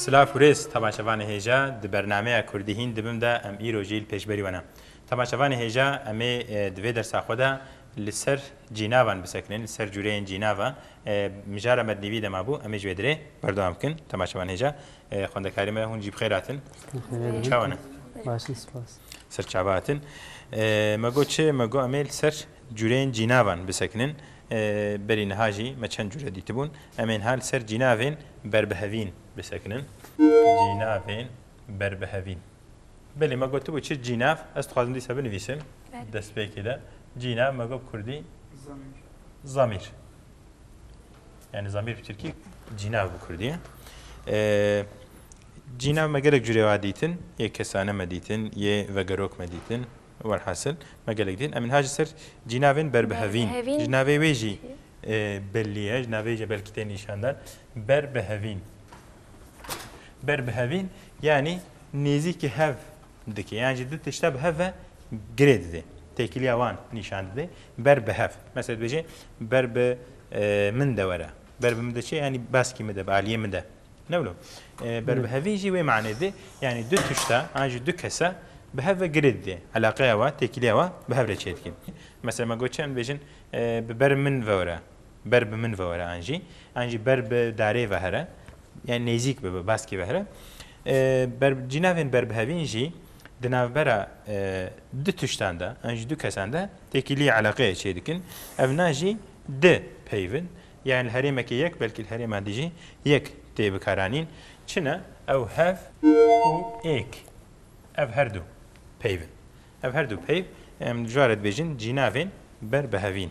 Silav û rêz temaşevanê hêja di bernameya Kurdî hîn dibim de em îro jî li pêşberî we ne. Temaşevanê hêja em ê di vê dersa xwe de li ser cînavan bisekinin, li ser cûreyên cînavan mijara me di nîvî de mabû, em ê ji vê dirê berdewam bikin. Tema Şevan Hêja, xwendekarê me, hûn jî bi xêr hatin. Hûn çawa ne? Baş in, spas. Ser çava hatin. Me got çi? Me got em ê li ser cûreyên cînavan bisekinin. Berî niha jî me çend cûre dîtibûn. Em ê niha li ser cînavên berbihevîn bisekinin. Cînavên berbihevîn. Belê me gotibû çi cînav ez dixwazim dîsa binivîsim destpêkê de cînav me got kurdî zamîr yani zamîr bi tirkî cînav bi kurdî cînav me gelek curê wa dîtin yê kesane me dîtin yê vegerok me dîtin welhasil me gelek dîtin em hajî ser cînavên berbihevîn ji navê wê jî belliye ji navê jî belkî tê nîşandan berbihevîn Ber bi hevîn yanî nêzîkî hev dike. Yan jî du tişta bi hev ve girê dide. Têkiliya wan nîşan dide. Ber bi hev. Mesela dibêje ber bi min de were. Ber bi min de çi? Yanî baskî min de, bi aliyê min de. Ne wilo. Ber bi hevî jî wê manê dide. Yanî du tişta an jî du kesa bi hev ve girê dide. Eleqeya we, têkiliya we bi hev re çêdike. Mesela me got çend dibêjin bi ber min ve were. Ber bi min ve were an jî, an jî ber bi darê ve here, yan nêzîk bi bi baskî ve here. Ber cînavên berbihevîn jî di navbera du tiştan de, an jî du kesan de têkiliyê eleqeyê çêdikin. Ev na jî di peyvin, yan li herêmekê yek belkî li herêman din jî yek tê bikaranîn. Çi ne? Ew hev û êk ev her du peyvin. Ev her du peyv em dijwar e dibêjin cînavên berbihevîn.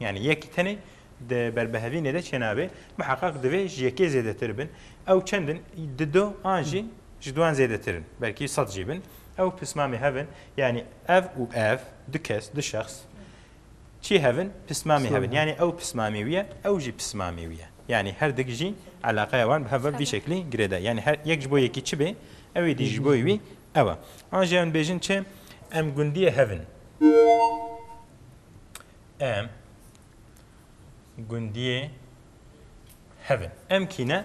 Yani yekî tenê di berbihevînê de çênabe miheqeq divê ji yekê zêdetir bin. Ew çend in? Di do an jî ji duan zêdetir in. Belkî sed jî bin. Ew pismamê hev in. Yani ev û ev du kes, du şexs çi hev in? Pismamê hev in. Yani ew pismamê wî ye, ew jî pismamê wî ye. Yani her dik jî eleqeya wan bi hev ve vî şeklî girê de. Yani her yek ji bo yekî çi bê, ew ê dî ji bo wî ew e. An jî em dibêjin çi? Em gundiyê hev in. Em gundiyê hev in. Em kî ne?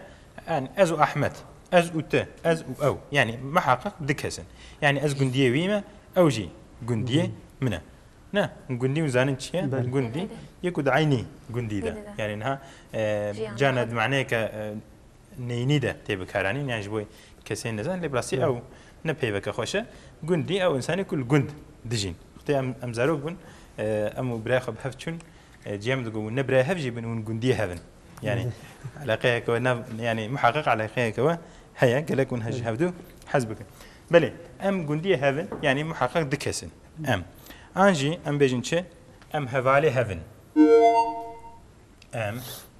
Yani ez û Ahmet, ez û tu, ez û ew. Yani muheqiq du kes in. Yani ez gundiyê wî me, ew jî gundiyê min e. Ne, gundî hûn zanin çi ye? Gundî yê ku di eynî gundî de. Yani niha cana di maneyeke neyînî de tê bikaranîn yan ji bo kesên nizan lê bi rastî ew ne peyveke xweş e. Gundî ew însanê ku li gund dijîn. Xwedê em em zarok bin em û birayê xwe bi hev çûn cîya min digot hûn ne birayê hev jî bin hûn gundiyê hev in. Yanî eleqeyeke we nav yanî muheqeq eleqeyeke we heye gelek hûn ji hev du hez bikin. Belê em gundiyê hev in yanî muheqeq du kes in em. An jî em bêjin çi em hevalê hev in. Em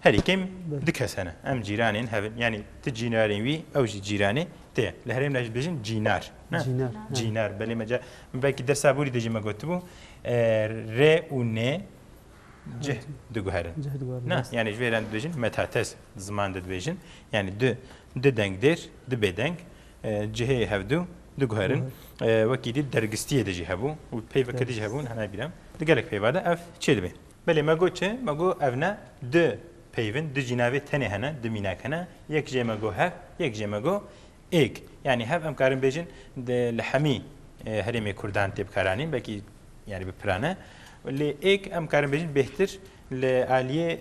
Herî kêm du kes hene. Em cîranên hev in. Yanî tu cînarên wî, ew jî cîranê te ye. Li herêmê de jî dibêjin cînar. Ne? Cînar. Cînar. Belê me ca min belkî dersa borî de jî me gotibû rê û nê cih diguherin. Cih diguherin. Ne? Rast. Yanî ji vê re em dibêjin metates di ziman de dibêjin. Yanî du du dengdêr, du bêdeng cihê hevdu diguherin. Wekî dît dergistiyê de jî hebû û peyva ke dijî hebûn hene bîra di gelek peyva de ev çêdibe. Belê me got çi? Me got ev ne du peyv in, du cînavê tenê hene, du mînak hene. Yek jê me got hev, yek jê me got êg. Yanî hev em karin bêjin di li hemî herêmê kurdan tê bikaranîn belkî yanî bi pira ne. Lê êg em karin bêjin bêhtir li aliyê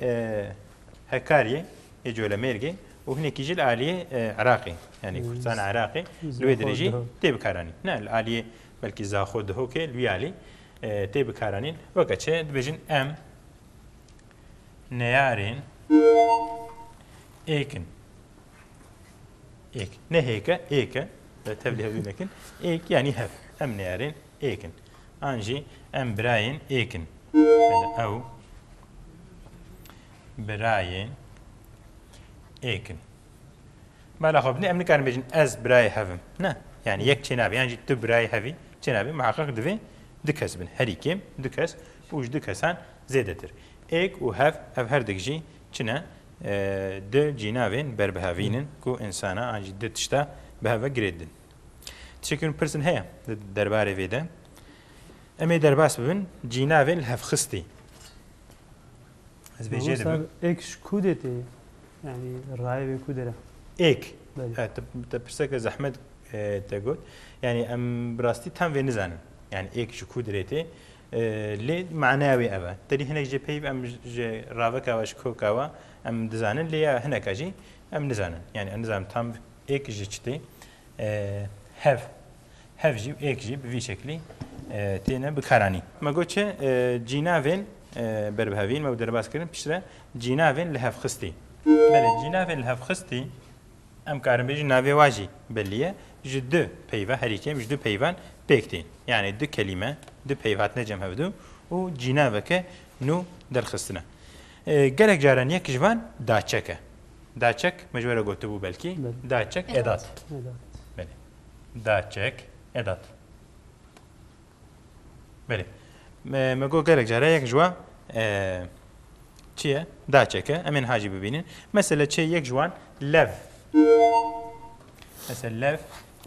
Hekaryê yê Colemêrgê û hinekî jî li aliyê Iraqê yanî Kurdistana Iraqê li wê dirêjî tê bikaranîn. Ne li aliyê belkî Zaxo Dihokê li wî alî. tê bikaranîn. Weke çi dibêjin em neyarên êkin. Êk. Ne hêke, êke. Tevlî hevdî nekin. Êk yanî hev. Em neyarên êkin. An jî em birayên êkin. Ew birayên êkin. Mala xwe binê em nikarin bêjin ez birayê hev im. Ne. Yanî yek çênabe yan jî tu birayê hev î çênabe miheqeq divê du kes bin. Herî kêm du kes û ji du kesan zêdetir. Êk û hev ev her dik jî çi ne du cînavên berbihevîn in ku însana an jî du tişta bi hev ve girê didin. Tiştekî min pirsin heye di derbarê vê de. Em ê derbas bibin cînavên lihevxistî. Ez bê jê dibim. Ek ji ku dê tê? Yani rayê wê ku dere? Ek. Te pirseke zehmet te got. Yani em bi rastî tam vê nizanin. Yani ek ji ku dirê tê. Lê manaya wê ev e. Te dî hinek jê peyv em ji raveka we ji koka we em dizanin lê ya hineka jî em nizanin. Yani em nizanin tam ek ji çi tê. Hev. Hev jî û êk jî bi vî şeklî têne bikaranîn. Me got çi cînavên ber bi hevîn me û derbas kirin piştre cînavên lihevxistî. Belê cînavên lihevxistî em karin bêjin navê wan jî belî ye ji du peyva herî kêm ji du peyvan pêk tên. Yanî du kelîme du peyv hatine cem hevdu û cînaveke nû derxistine. Gelek caran yek ji van daçek e. Daçek me ji we re gotibû belkî daçek edat. Belê. Da çek e dat. Belê. Me, me got gelek care yek ji wan e, çi ye? Da çek e. Em ê niha jî bibînin. Mesela çê yek ji wan lev. Mesela lev.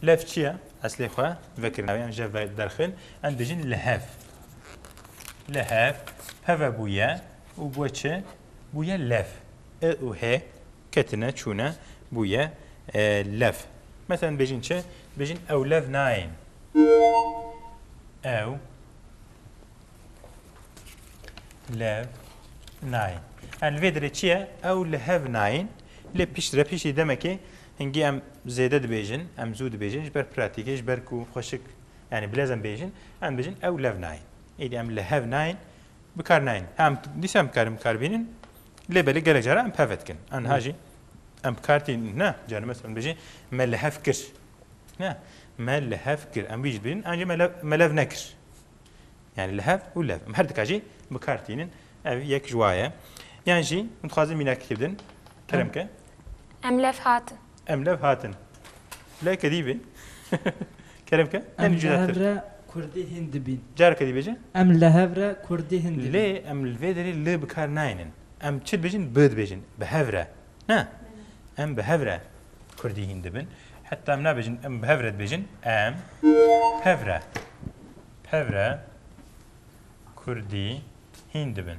Lev çi ye? Eslê xwe vekirina yan je ve derxil. Em dijin lehev. Lehev. Peve bûye û bûye çi? Bûye lev. I û hê Ketine, çûne, bûye, lev. Meselen dibêjin çi? Dibêjin ew lev nayên. Ew lev nayên. Yani vê dirê çi ye? Ew li hev nayên. Lê pişt re piştî demekê hingî em zêde dibêjin, em zû dibêjin ji ber pratîkê, ji ber ku xweşik yani bilez em bêjin, em dibêjin ew lev nayên. Êdî em li hev nayên Bikar nayên. Em dîsa em bikarin bikar bînin. Lê belê gelek cara em peve dikin. Aniha jî em bikar tîn ne. Cara mes em dibêjin me li hev kir. Ne me li hev kir. Em wî jî dibêjin an jî me lev nekir. Yani li hev û lev. Em her dika jî bikar tînin. Ev yek ji waye. Yan jî min dixwazin mînakî kir bidin. Kerem ke. Em lev hatin. Em lev hatin. Lê kedî bê. Kerem ke? Em li hev re kurdî hîn dibîn. Careke dî bêje. Em li hev re kurdî hîn dibîn. Lê em li vê derê li bi kar nayênin. Em çi dibêjin? Bi dibêjin. Bi hev re. Ne? Em bi hev re kurdî hîn dibin. Heta em nabêjin em bi hev re dibêjin. Em hev re. Hev re kurdî hîn dibin.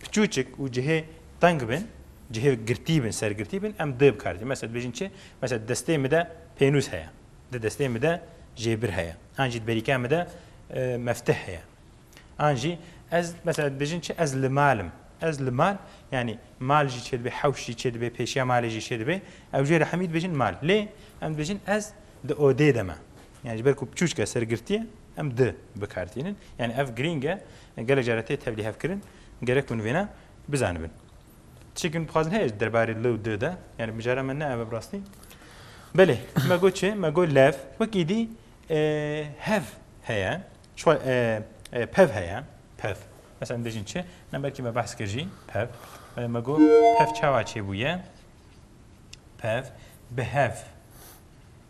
Piçûçik û cihê teng bin, cihê girtî bin, sergirtî bin em dê bikarijin. Mesela dibêjin çi? Mesela destê min de pênûs heye. Di destê min de jêbir heye. An jî di berîka min de meftih heye. An jî ez mesela dibêjin çi? Ez li mal im. Ez li mal yanî mal jî çê dibe, hewş jî çê dibe, pêşiya malê jî çê dibe. Ew jê re hemî dibêjin mal. Lê em dibêjin ez di odê de me. Yanî ji ber ku piçûçik e, sergirtî ye em di bikaritînin. Yanî ev girîng e. Gelek jare tê tevlîhevkirin, gerek hûn vêna bizanibin. Çîkin bixwazin heye ji derbarê li û di de, yanî mijara me ne ev e bi rastî. Belê, me got çi? Me got lev, wek êdî hev heye, çwa pev heye, pev. Mesela dibêjin çi? Ne belkî me behs kir jî pev. Belê me got pev çawa çêbûye? Pev bi hev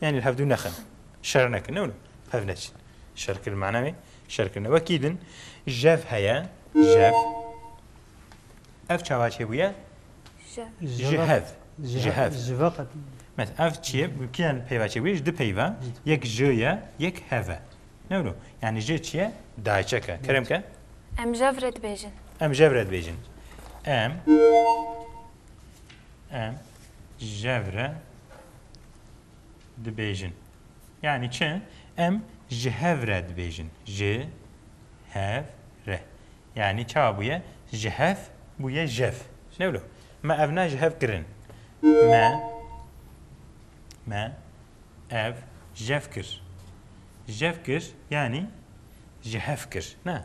Yanî li hevdû nexin, şer nekin, ne hev neçin. Şerkirin mana wê, şerkirin. Wekî din jev heye, jev. Ev çawa çêbûye? Ji hev. Ji hev. Ji ve qet. Mes ev çiye, kiyan peyva çêbûye? Ji di peyva, yek ji ye, yek heve. Ne wilo? Yani ji çiye? Dayçeke. Kerem ke? Em jev re dibêjin. Em jev re dibêjin. Em Em jevre dibêjin. Yani çi? Em ji hevre dibêjin. Ji hev re. Yani ça bûye? Ji hev bûye jev. Ne wilo? Me ev ne ji hev kirin. Me me ev jev kir. Jev kir yani ji hev kir. Ne?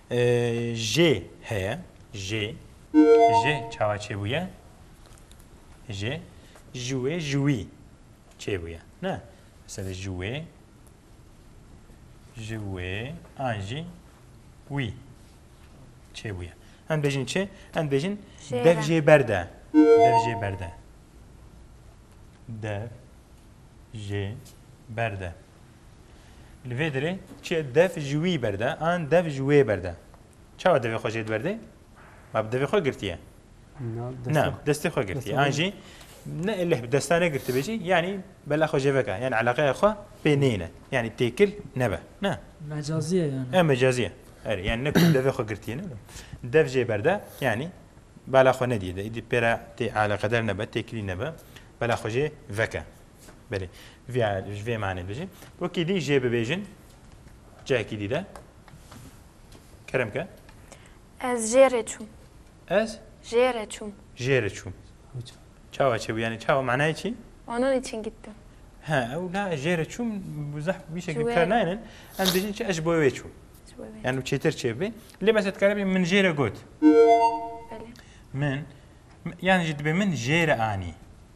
Jê heye. Jê. Ji çawa çêbûye? Ji ji wê ji wî çêbûye. Ne? Mesela ji wê ji wê an jî wî çêbûye. Em bêjin çi? Em bêjin dev jê berde. Dev jê berde. Dev jê berde. Li vê derê çi ye dev ji wî ber de an dev ji wê ber de. Çawa devê xwe jê diberdê? Ma bi devê xwe girtiye. Na destê xwe girtiye. An jî ne eleh bi desta ne girtibê jî yanî bela xwe jê veke. Yani eleqeya xwe pê neyne. Yani têkil nebe. Ne. Mecaziye yani. E mecaziye. Er yani ne ku devê xwe girtiye ne. Dev jê ber de yani bela xwe nediye de. Îdî pêra tê eleqeder nebe, têkilî nebe. Bela xwe jê veke. Belê. Vîya ji vê manê dijî. Wekî dî jê bibêjin cihekî dî de. Kerem ke. Ez jê rê çûm. Ez? Jê rê çûm. Jê rê çûm. Çawa çê bû yanî çawa manayê çî? Onun için gittim. He, ew la ez jê rê çûm zeh bî şekil kar nayênin. Em dijîn çi ez ji bo wê çûm. Yani çêtir çê bê. Lê mesela dikare bê min jê re got. Min yani ji dibê min jê re anî.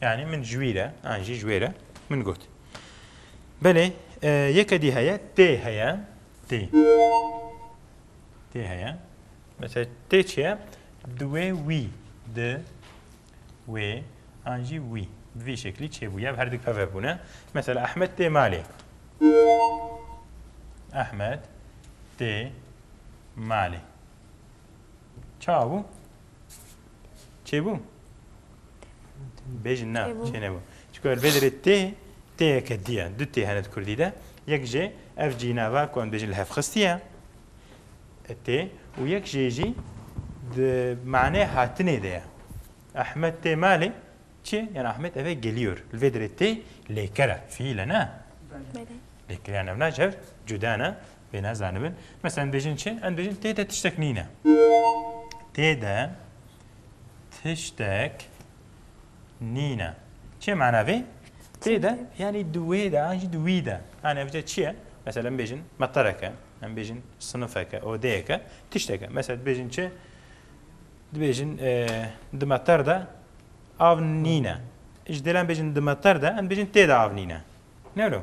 Yani min ji wî re an jî ji wê re min got. Belê e, yeke dî heye tê heye tê. Tê heye. Mesela tê çi ye? Di wê wî di wê an jî wî. Bi vî şeklî çêbûye ev herdik peve bûne. Mesela Ahmet tê malê. Ahmet tê malê. Çawa bû? Çêbû? Bêjin na, Çêbû. çênebû. Çiko vê derê tê, têyeke dî ye. Du tê hene di Kurdî de. Yek jê ev cînava ku em dibêjin li hev xistî ye. E, tê û yek jê jî di maneyê hatinê de ye. Ehmed tê malê çi? Yan Ehmed eve geliyor. Li vê derê tê lêker e. Fiîl e ne? Belê. Lêker yan ev na ji hev cuda ne. Bê nezanibin. Mesela em bêjin çi? Em bêjin tê de tiştek nîne. Tê de tiştek nîne. Çê mana vê? Tê de yani di wê de an jî di wî de. Yani ev çi ye? Mesela em bêjin meqereke, em bêjin sinifeke, odeyeke, tişteke. Mesela dibêjin çi? Dibêjin di meqer de av nîne. Ji dêlan bêjin di meqer de em bêjin tê de av nîne. Ne wilo?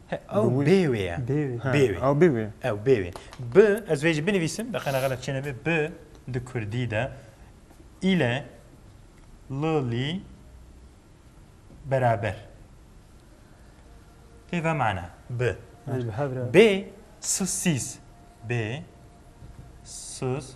Ew bê wê ye. Bê wê. Bê wê. Ew bê wê. Ew bê wê. Bi ez vê jî binivîsim beqena xelet çê nebe bi di kurdî de île li lî beraber. Tê ve mana bi. Bê sus sîs. Bê sus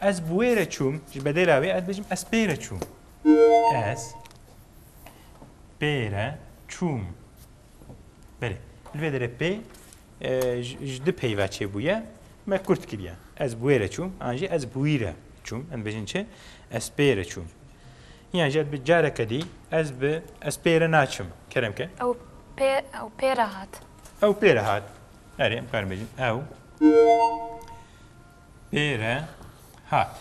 Ez bi wê re çûm, ji bedêla wê ez dibêjim ez pê re çûm. Ez pê re çûm. Belê. Li vê derê pê ji du peyva çêbûye. Me kurt kiriye. Ez bi wê re çûm, an jî ez bi wî re çûm. Em dibêjin çi? Ez pê re çûm. Yan jî bi careke dî ez bi ez pê re naçim. Kerem ke? Ew pê ew pê re hat. Ew pê re hat. Erê em karin bêjin ew Pêre hat.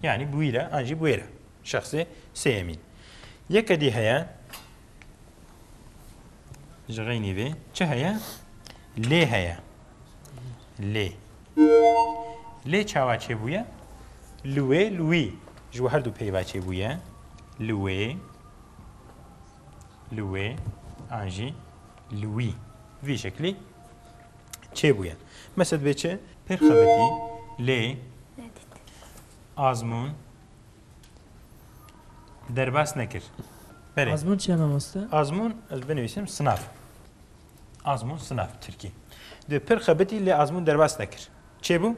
Yani bi wî re an jî bi wê re. Şexsê sêyemîn. Yeke dî heye ji xeynî vê çi heye? Lê heye. Lê. Lê çawa çêbûye? Li wê li wî. Ji we herdû peyva çêbûye. Li wê li wê an jî li wî. Vî şeklî çêbûye. Mesela divê çi? Pêr xebitî lê azmûn derbas nekir. Berê. Azmûn çi ye mamoste? Azmûn ez binivîsim sınav. Azmûn sınav Tirkî. Divê pêr xebitî lê azmûn derbas nekir. Çêbû?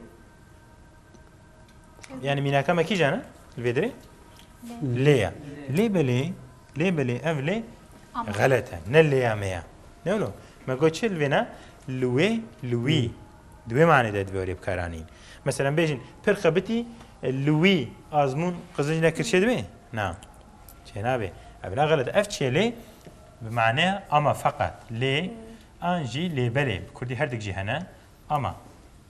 Yani mînaka me kîjan e? Li vê dirê? Lê ye. Lê belê Lê belê ev lê xelet e. Ne lê ya me ya. Ne wilo. Me got çi li vê ne? Li wê, li wî. Di wê manê de divê wê bikaranîn. Mesela em bêjin pir xebitî li wî azmûn qizinc nekir çê divê? Na. Çê nabê. Ev ne xelet. Ev çi ye lê? Bi maneya ama feqet. Lê an jî lê belê. Bi kurdî herdik jî hene. Ama.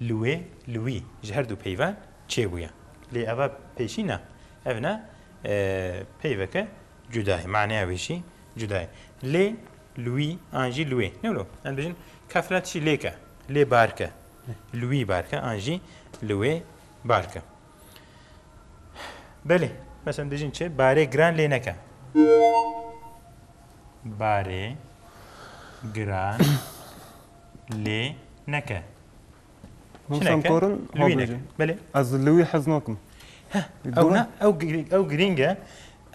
Li wê, li wî ji her du peyve çêbûye. Lê eva pêşî ne. Ev ne peyveke cuda ye. Maneya wê jî cuda ye. Lê, li wî an jî li wê. Ne wilo? Em dibêjin kefna tişî lê ke. Lê bark e. Li wî bark e an jî li wê bark e. Belê. Mesela em dibêjin çi? Barê giran lê neke. Barê giran Lê neke. Min Çineke, şamkorin li wî neke. hobêjin. Belê. Ez li wî hez nakim. Heh, Dû ew me. ne, ew gi- ew girîng e.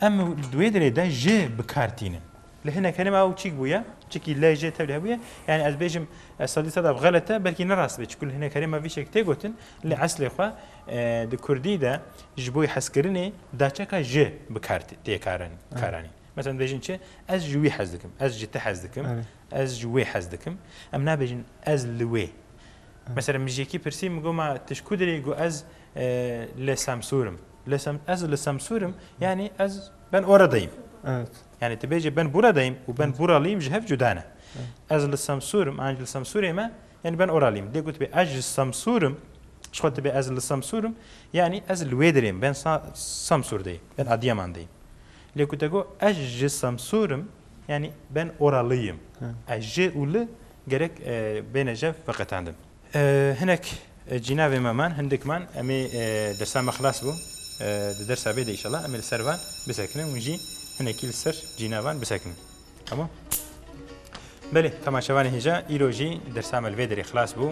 Em di wê dirê de ji bi kar tînin. Li hinek herêm ew çîk bûye, çikî lê jê tevlî hebûye. Yanî ez bêjim e, sedî sed ev xelet e, belkî ne rast be. Çikû li hinek herêma vî şek tê gotin, lê eslê xwe e, di kurdî de ji bo hezkirinê daçeka ji bi kar tê karanîn. Karanîn. Meselen dibêjin çi? Ez ji wî hez dikim, ez ji te hez dikim. Erê. Ez ji wê hez dikim. Em nabêjin ez li wê. Mesela min ji yekî pirsî min got ma tu ji ku derê yî got ez li Semsûr im. Li Sem ez li Semsûr im yanî ez ben orada yîm. Evet. Yanî tu bêje ben burada yîm û ben buralî yîm ji hev cuda ne. Ez li Semsûr im an ji li Semsûrê me yanî ben oralî yîm. Lê gotibê ez ji Semsûr im ji xwe dibê ez li Semsûr im yanî ez li wê derê yîm ben Semsûr de yîm ben Adiyaman de yîm. Lê ku te got ez ji Semsûr im Yanî ben ora li yim. E ji û li gerek bêne jev veqetandin. Hinek cînavê me man, hindik man. Em ê dersa me xilas bû. Di dersa vê de îşallah em ê li ser van bisekinin û jî hinekî li ser cînavan bisekinin. Tamam? Belê, temaşevanê hêja, îro jî dersa me li vê derê xilas bû.